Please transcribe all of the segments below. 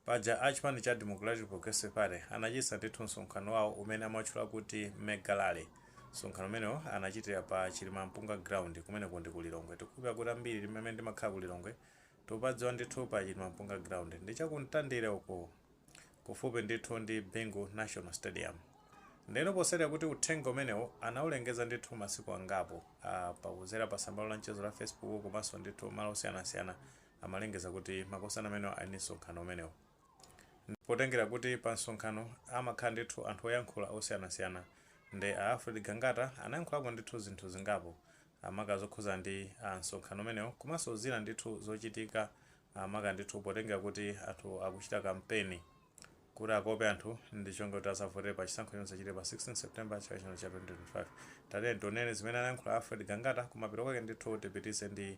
Paja a chipani cha Democratic Progressive Party anachititsa ndithu msonkhano wawo umene amatchula kuti Mega Rally. Msonkhano umenewo anachitira pa Chilimampunga Ground, kumeneko ndi ku Lilongwe. Tikukhulupirira kuti ambiri timene timakhala ku Lilongwe tikupadziwa ndithu pa Chilimampunga Ground. Ndi cha ku Mtandire uko, kufupi ndithu ndi Bingu National Stadium. Ndiyeno potsatira kuti uthenga umenewo anaulengeza ndithu masiku angapo, a, pa, kudzera pa tsambalo la mchezo la Facebook komanso ndithu malo osiyanasiyana, amalengeza kuti makosana amenewa ali ndi msonkhano umenewu. Nde potengera kuti pa msonkhano amakhala ndithu anthu oyankhula osiyanasiyana nde a Alfred Gangata anayankhulako ndithu zinthu zingapo maka zokhudzana ndi msonkhano umenewu komanso zina ndithu zochitika maka ndithu potengera kuti anthu akuchita kampeni kuti akope anthu ndi cholinga choti adzavotere pa chisankho chomwe chidzachitika pa 16 September chaka chino cha 2025. Tatiyeni tionere zimene anayankhula a Alfred Gangata kumapeto kwake ndithu tipitirize ndi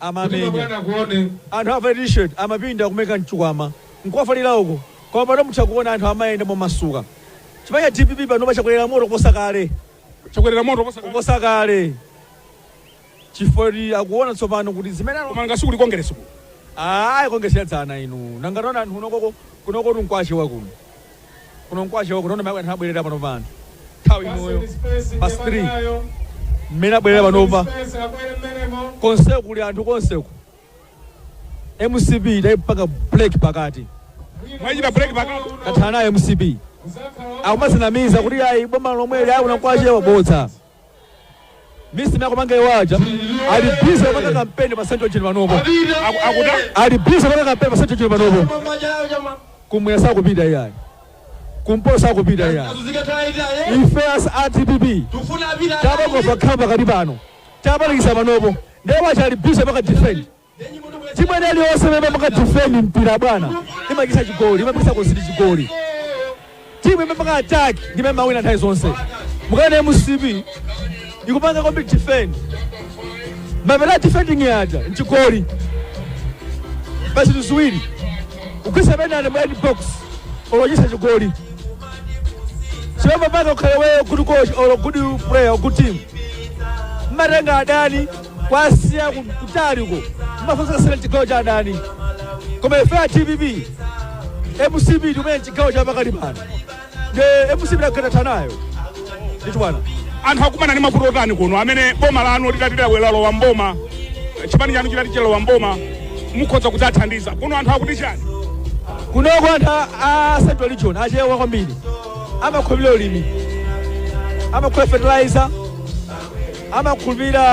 amamenya anthu avala t-shirt amapinda kumaika mchikwama nkukavalira uko koma pano mutha kuona anthu amayenda momasuka chipani cha dpp panopa chakolera moto kuposa kale chakolera moto kuposa kale. kuposa kale chifukwa kuti akuona tsopano kuti zimene alo- koma ngati kuli kongeresi ku ayi kongeresi ya dzana inu nanga taonani anthu kunokoko kunoko kuno nkwachewa kuno kuno nkwachewa kuno nona maiko anthu abwerera panopa anthu nthawi inoyo past 3 mmene abwerera panopa konseku kuli anthu konseku mcp taipanga break pakati mwachita break pakati tathana nayo mcp akumadzinamiza kuti ayi boma lomweli ayi kuno nkwachewa bodza Mcp akumanga iwo aja ali busy kupanga kampeni pa central region panopo Aku- akuda ali busy kupanga kampeni pa central region panopo kumwera sakupita iyayi kumpoto sakupita iyayi ife as a dpp tabangova khamba pakati pano tabalalikitsa panopo ndiye wacha ali busy kupanga defend Timu ina iliyonse imene imapanga defend mpira bwana imachita chigoli, imapangitsa concede chigoli. Timu imapanga attack ndi imene imawina nthawi zonse. Mukaona MCP ikupanga kombi defend, mapeto a defending yaja nchigoli basi tuziwiri ukwisa penalty mu edbox olojesa chigoli chimapapanga ukhale iweyo good coach or good player or good team mmatenga adani kuwasiya ku- kutali uko mumafunsa kasana chigawo cha adani koma ife a dpp mcp tikumene chigawo cha pakati pano nde mcp tathana nayo ndithu bwana anthu akumana ndi mavuto otani kuno amene boma lanu litati lawe- lalowa mboma chipani chanu chitati chalowa mboma mukhoza kudzathandiza kuno anthu akuti chani kunoko anthu a- a central region achewa kwambiri amakhulupirira ulimi amakhulupirira fertilizer amakhulupirira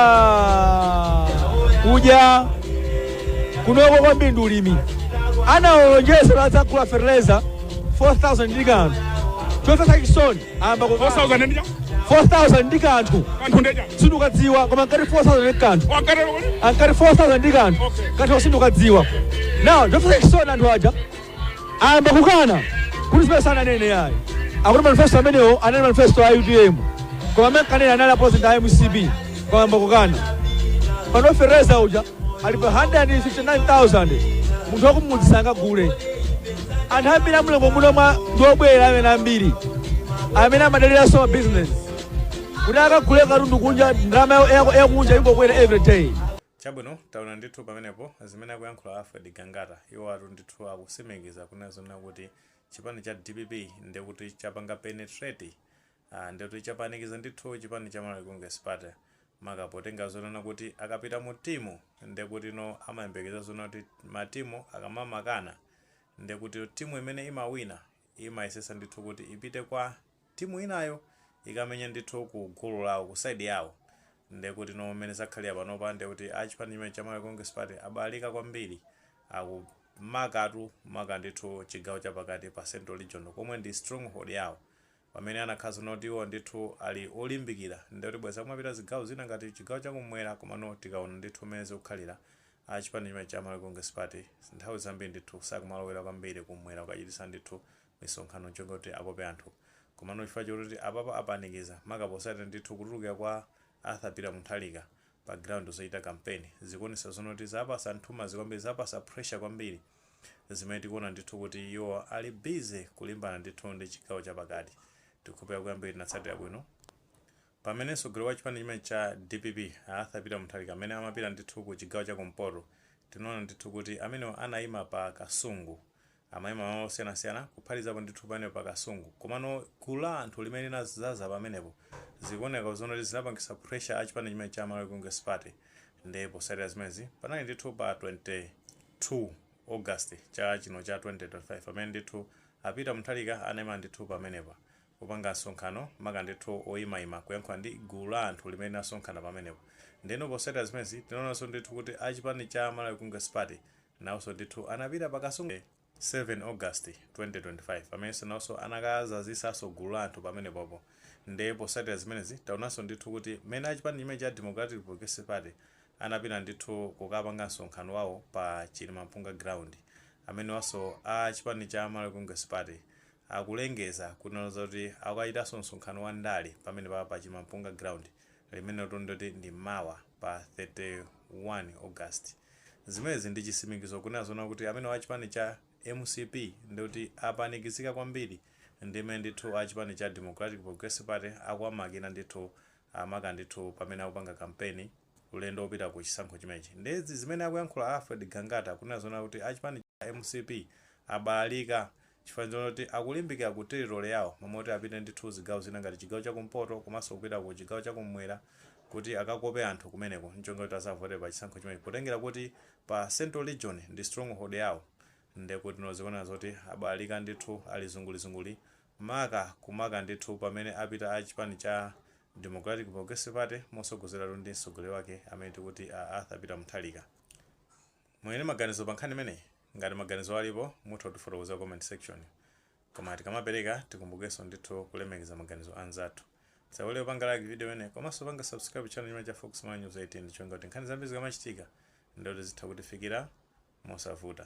uja kunoko kwambiri ndi ulimi anaolonjeza kuti adzagula fertilizer 4000 ndi kanthu chomvetsa chisoni ayamba ku 4000 ndi cha 4000 ndi kanthu kanthu ndiye sindukadziwa koma ngati 4000 ndi kanthu wakatero kuti ankati 4000 ndi kanthu Okay. kanthu sindukadziwa now chomvetsa chisoni anthu aja ayamba kukana kuti zimene sananene ayi akuti manifesto amenewo anali manifesto a utm koma amene ankanena anali apresident a mcp koma ayamba kukana pano feteleza uja ali pa 159000 munthu wakumudzi sangagule anthu ambiri a mu Lilongwe muno mwa ndi obwera amene ambiri amene amadaliranso ma business kuti akagule katundu kunja ndalama yakunja ikungokwera every day Chabwino, taona ndithu pamenepo zimene akuyankhula Alfred Gangata. Iwowatu ndithu akutsimikiza kunena zonena kuti chipani cha dpp ndiye kuti chapanga penetrate, aah, ndiye kuti chapanikiza ndithu chipani cha Malawi Congress Party, maka potenga zonena kuti akapita mu timu ndiye kutino amayembekezera zonena kuti matimu akamamakana ndiye kutino timu imene imawina imayesetsa ndithu kuti ipite kwa. timu inayo ikamenya ndithu ku gulu lawo ku side yawo ndekutino mmene zakhalira panopa ndekuti a chipani chimene cha Malawi Congress Party abalalika kwambiri akumakhalatu maka ndithu chigawo chapakati pa central region komwe ndi stronghold yawo pamene anakakhala zonena kuti iwo ndithu ali olimbikira ndekuti bwezi akumapita zigawo zina ngati chigawo chakumwera komano tikaona ndithu mmene zikukhalira a chipani chimene cha Malawi Congress Party nthawi zambiri ndithu sakumalowera kwambiri kumwera kukachitisa ndithu misonkhano ncholinga kuti akope anthu komano chifukwa choti apapa apanikizika maka potsatira ndithu kutulukira kwa Arthur Peter Mutharika pa ground zochita kampeni zikuonetsa zonoti zapatsa nthumanzi kwambiri zapatsa pressure kwambiri zimene tikuona ndithu kuti iwo ali busy kulimbana ndithu ndi chigawo chapakati tikukhulupirira kuti ambiri tinatsatira bwino pamene mtsogoleri wa chipani chimene cha dpp a Arthur Peter Mutharika pamene amapita ndithu ku chigawo cha kumpoto tinaona ndithu kuti amenewo anaima pa Kasungu Amaima malo osiyanasiyana kuphatikizapo ndithu pamenepo pa Kasungu komano gulu la anthu limene linadzaza pamenepo zikuoneka zonoti zinapangitsa pressure a chipani chimene cha Malawi Congress Party nde potsatira zimenezi panali ndithu pa 22 August chaka chino cha 2025 pamene ndithu a Peter Mutharika anaima ndithu pamenepa kupanga msonkhano maka ndithu oimaima kuyankhula ndi gulu la anthu limene linasonkhana pamenepo ndeno potsatira zimenezi tinaonanso ndithu kuti a chipani cha Malawi Congress Party Nawonso ndithu anapita pa Kasungu pa 27 August 2025 pamenenso nawonso anakadzazitsanso gulu la anthu pamenepopo nde potsatira zimenezi taonanso ndithu kuti mmene a chipani chimene cha Democratic Progressive Party anapita ndithu kukapanga msonkhano wawo pa Chilimampunga Ground amenewanso a chipani cha Malawi Congress Party Akulengeza kunena zoti akukachitanso msonkhano wa ndale pamenepa pa Chilimampunga Ground, limenelotu ndikuti ndi mawa pa 31 August. Zimenezi ndi chitsimikizo kunena zoona kuti amenewa a chipani cha mcp ndikuti apanikizika kwambiri ndi mmene ndithu a chipani cha Democratic Progressive Party akuwamakina ndithu amaka ndithu pamene akupanga kampeni. ulendo opita ku chisankho chimenechi nde zimene akuyankhula Alfred Gangata kunena zoona kuti a chipani cha mcp abalalika chifukwa ndizoona kuti akulimbikira ku territory yawo m'malo moti apite ndithu zigawo zina ngati chigawo cha kumpoto komanso kupita ku chigawo cha kum'mwera kuti akakope anthu kumeneko ncholinga choti azavotere pa chisankho chimenechi potengera kuti pa central region ndi stronghold yawo ndekutino zikuoneka zoti abalalika ndithu ali zungulizunguli Maka kumaka ndithu pamene apita a chipani cha Democratic Progressive Party motsogozedwatu ndi mtsogoleri wake amene tikuti a Arthur Peter Mutharika. Muli ndi maganizo pa nkhani imeneyi? Ngati maganizowo alipo mutha kutifotokozera ku comment section. Koma tikamapereka tikumbukenso ndithu kulemekeza maganizo a anzathu. Tisayiwale kupanga like video imeneyi komanso kupanga subscribe channel chimenechi cha Fox Malawi News 18 ndi cholinga kuti nkhani zambiri zikamachitika ndiye kuti zitha kutifikira mosavuta.